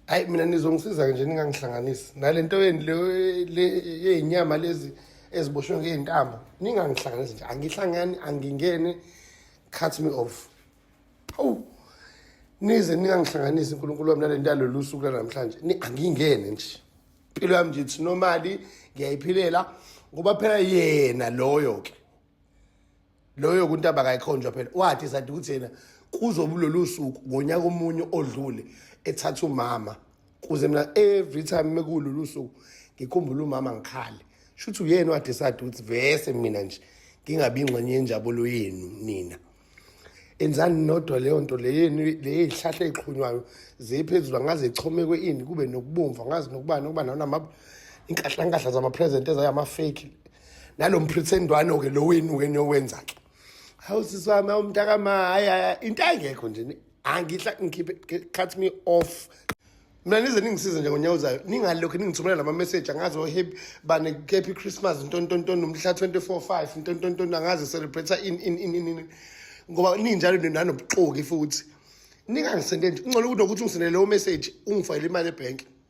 hayi mina nizongisiza-ke nje ningangihlanganisi nale nto yeni yeyinyama lezi eziboshwe ngey'ntambo ningangihlanganisi nje angihlangani angingene cut me off hawu nize ningangihlanganisi unkulunkulu wami nale nto yalolu suku lanamhlanje angingene nje impilo yami nje ithi nomali ngiyayiphilela ngoba phela yena loyo-ke loyo kuntaba kayikhonjwa phela wathi sathi ukuthi yena kuzobulolu suku ngonyaka omunye odlule ethatha umama kuze mina every time mekulolu suku ngikhumbula umama ngikhale shuthi uyena wathi sathi ukuthi vese mina nje ngingabi ingxenye yenjabulo yenu nina enzani nodwa leyo nto leyenu leyihlahla eziqhunywayo ziphezulu angaze ichomekwe ini kube nokubomvu angazi nokubani okuba nanama inkahlankahla zama-present ezayama-fake nalo mphrithendwano ke lo wenu ke niyowenza ke hawu sisi wami awumntakama hayi into ayingekho nje angihla ngikhiphe cut me off mina nize ningisize nje ngonyawuzayo ningalokhu ningithumela lama message angazi ohappy oh, bane happy christmas ntontonton umhla 245 ntontonton angazi celebrate in in in in ngoba ninjalo ninobuxoki futhi ningangisendeni ungcono ukuthi ukuthi ungisendele leyo message ungifayele imali ebhenki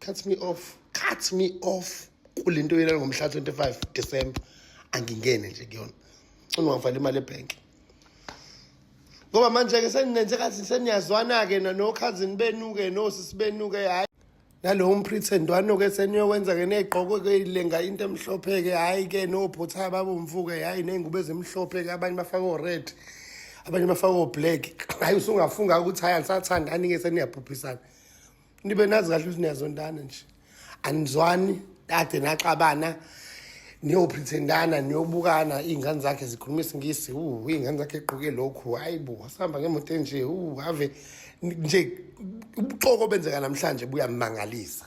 cut me off cut me off kule nto yena ngomhla 25 December angingene nje kuyona cona ungangifali imali ebhenki ngoba manje-ke seninenze kathi seniyazwana-ke nokhazini benu-ke nosisi benu-ke hhayi nalowo mphrithendwano-ke seniyokwenza-ke ney'gqoko-ke ilenga into emhlophe-ke hhayi-ke nobhothayi babomvu-ke hhayi ney'ngubo ezimhlophe-ke abanye bafake o-red abanye bafake o-black hhayi usungafunga ukuthi hhayi anisathandani-ke seniyabhubhisana nibe nazi kahle ukuthi niyazondana nje anizwani kade naxabana niyoprethendana niyobukana iy'ngane zakhe zikhuluma isingisi u iy'ngane zakhe egqoke lokhu hhayi bo wasihamba ngemoto enje u ave nje ubuxoko obenzeka namhlanje buyamangalisa